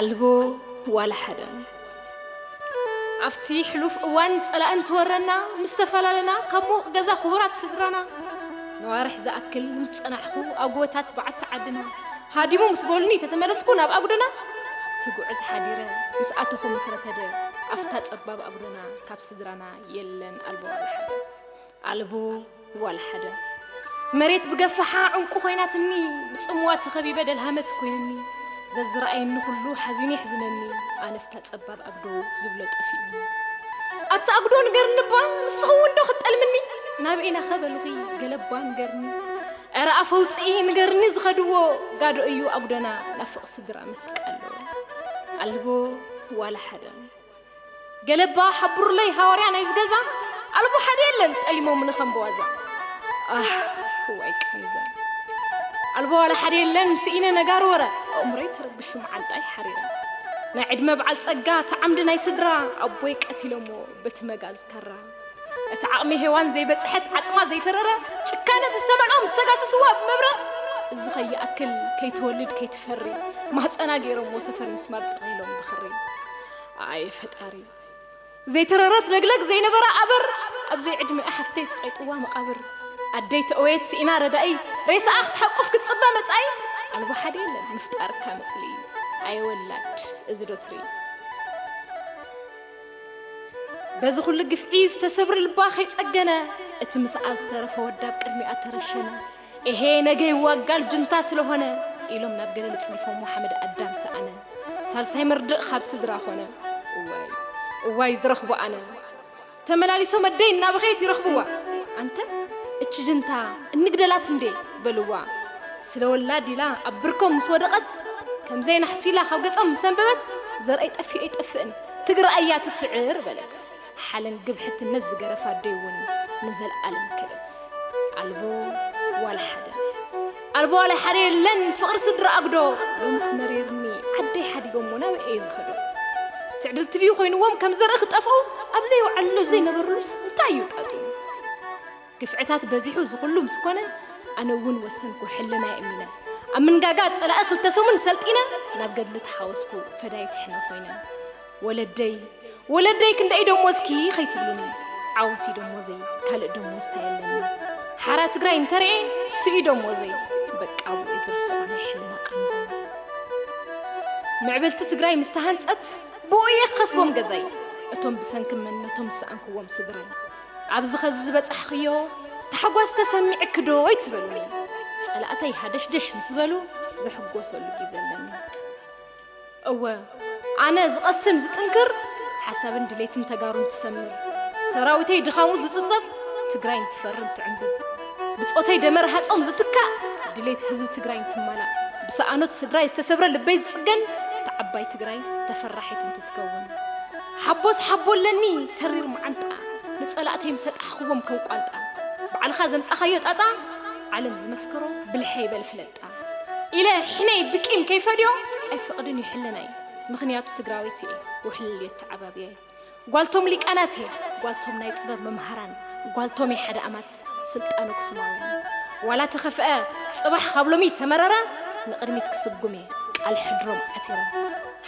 ኣልቦ ዋላ ሓደ ኣብቲ ሕሉፍ እዋን ጸላእ እንትወረና ምስ ተፈላለና ካብ ምዉቕ ገዛ ክቡራት ስድራና ነዋርሕ ዝኣክል ምስ ጸናሕኹ ኣብ ጎቦታት በዓቲ ዓድና ሃዲሙ ምስ በሉኒ ተተመለስኩ ናብ ኣጉደና ትጉዕዝ ሓዲረ ምስ ኣተኹ ምስ ረፈደ ኣብታ ጸባብ ኣጉደና ካብ ስድራና የለን ኣልቦ ዋላ ሓደ ኣልቦ ዋላ ሓደ መሬት ብገፋሓ ዕንቁ ኮይናትኒ ብጽምዋ ተኸቢበ ደልሃመት ኮይንኒ ዘዝረኣየኒ ኩሉ ሓዚኑ የሕዝነኒ ኣነፍታ ጸባብ ኣግዶ ዝብሎ ጠፊኡኒ ኣቲ ኣግዶ ንገርንባ ንስኸውን ዶ ክጠልምኒ ናብ ኢና ኸበልኺ ገለባ ንገርኒ ዕረ ኣፈውፅኢ ንገርኒ ዝኸድዎ ጋዶ እዩ ኣጉዶና ናፍቕ ስድራ መስቀሎ ኣልቦ ዋላ ሓደ ገለ እባ ሓብሩለይ ሃዋርያ ናይዚ ገዛ ኣልቦ ሓደ የለን ጠሊሞምኒ ከም ብዋዛ ኣህ እዋይ ቃንዛ ኣልቦ ዋላ ሓደ የለን ስኢነ ነጋር ወረ ኣእምሮይ ተረብሹ መዓንጣይ ሓሪረ ናይ ዕድመ በዓል ጸጋ እቲ ዓምዲ ናይ ስድራ ኣቦይ ቀቲሎሞ በቲ መጋዝ ካራ እቲ ዓቕሚ ሄዋን ዘይበጽሐት ዓጽማ ዘይተረረ ጭካነ ብዝተመልኦም ዝተጋሰስዋ ብመብረ እዚ ከይኣክል ከይትወልድ ከይትፈሪ ማህፀና ገይሮሞ ሰፈር ምስማር ጠቒሎም ብኽሪ ኣየ ፈጣሪ ዘይተረረት ለግለግ ዘይነበራ ኣበር ኣብ ዘይዕድሚኣ ሓፍተይ ጸቒጥዋ መቓብር ኣደይ ተእወየት ስኢና ረዳኢ ሬሳኣ ክትሓቁፍ ክትጽበ መጻኢ ኣልቦ ሓደ የለን ምፍጣርካ መጽልኢ ኣየ ወላድ እዚ ዶ ትርኢ በዚ ኩሉ ግፍዒ ዝተሰብሪ ልባ ከይጸገነ እቲ ምስኣ ዝተረፈ ወዳብ ቅድሚኣ ተረሸነ ኤሄ ነገ ይዋጋል ጅንታ ስለሆነ ኢሎም ናብ ገደል ጽዲፎሞ ሓመድ ኣዳም ሰኣነ ሳልሳይ መርድእ ኻብ ስድራ ኾነ እዋይ እዋይ ዝረኽቦ ኣነ ተመላሊሶም ኣደይ እናበኸየት ይረኽብዋ ኣንተ እቺ ጅንታ እንግደላት እንዴ በልዋ ስለ ወላድ ኢላ ኣብ ብርኮም ምስ ወደቐት ከምዘይ ናሕሱ ኢላ ኻብ ገጾም ምስ ኣንበበት ዘርኣይ ጠፊኡ ኣይጠፍእን ትግራይ እያ ትስዕር በለት። ሓለን ግብሕትነት ዝገረፋ ኣደይ ውን ንዘልኣለም ከደት ኣልቦ ዋላ ሓደ ናይ ኣልቦ ዋላ ሓደ የለን ፍቅሪ ስድራ ኣጉዶ ሎምስ መሪርኒ ዓደይ ሓዲጎሞ ናበይ እየ ዝኸዶ ትዕድልቲ ድዩ ኮይንዎም ከም ዘርኢ ክጠፍኡ ኣብዘይውዓልሉ ኣብዘይነበርሉስ እንታይ እዩ ጣጡ ግፍዕታት በዚሑ እዚ ኩሉ ምስ ኮነ ኣነ እውን ወሰንኩ ሕልናይ እሚነ ኣብ ምንጋጋ ጸላኢ ክልተ ሰሙን ሰልጢነ ናብ ገድሊ ተሓወስኩ ፈዳይት ሕነ ኮይነ ወለደይ ወለደይ ክንደይ ደሞ እስኪ ከይትብሉኒ ዓወት እዩ ደሞዘይ ካልእ ደሞዝታ የለኒ ሓራ ትግራይ እንተርኤ ስኡ ደሞዘይ በቃ ውዒ ዝርስዖ ናይ ሕልና ቃንዘ ምዕብልቲ ትግራይ ምስ ተሃንጸት ብኡ እየ ክኸስቦም ገዛይ እቶም ብሰንኪ መንነቶም ዝሰኣንክዎም ስድራይ ኣብዚ ኸዚ ዝበጻሕኽዮ ታሕጓስ ተሰሚዕክዶ ኣይትበሉኒ። ጸላእተይ ሃደሽደሽ ምስ በሉ ዝሕጎሰሉ ግዜ ኣለኒ። እወ ኣነ ዝቐስን ዝጥንክር ሓሳብን ድሌትን ተጋሩን ትሰምር፣ ሰራዊተይ ድኻሙ ዝጽብጸብ ትግራይን ትፈርን ትዕንብብ፣ ብጾተይ ደመ ረሃጾም ዝትካእ ድሌት ህዝቢ ትግራይን ትማላእ፣ ብሰኣኖት ስድራይ ዝተሰብረ ልበይ ዝጽገን ተዓባይ ትግራይ ተፈራሒትን ትትከእ። ትከውን ሓቦስ ሓቦ ኣለኒ ተሪር መዓንጣ ንጸላእተይ ምሰ ጣሕኽዎም ከም ቋንጣ ባዕልኻ ዘምጻኻዮ ጣጣ ዓለም ዝመስከሮ ብልሐይ በል ፍለጣ ኢለ ሕነይ ብቂም ከይፈድዮ ኣይፈቕድን እዩ ሕልናይ ምኽንያቱ ትግራወይቲ እየ ውሕልል የተዓባብያይ ጓልቶም ሊቃናት እየ ጓልቶም ናይ ጥበብ መምሃራን ጓልቶም እየ ሓደ ኣማት ዝገልጽ ስልጣን ኣክሱማውያን ዋላ ተኸፍኣ ጽባሕ ካብ ሎሚ ተመረረ ንቕድሚት ክስጉም እየ ቃል ሕድሮም ዓቲረ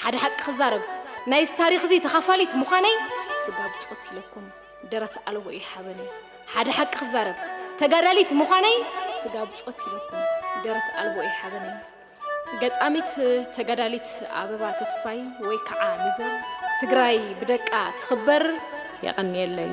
ሓደ ሓቂ ክዛረብ ናይዚ ታሪኽ እዚ ተኻፋሊት ምዃነይ ስጋ ብጾት ኢለኩም ደረት ኣልቦ እዩ ሓበነይ ሓደ ሓቂ ክዛረብ ተጋዳሊት ምዃነይ ስጋ ብጾት ኢለኩም ደረት ኣልቦ እዩ ሓበነይ ገጣሚት ተጋዳሊት ኣበባ ተስፋይ ወይ ከዓ ሚዘር ትግራይ ብደቃ ትኽበር የቐንየለይ።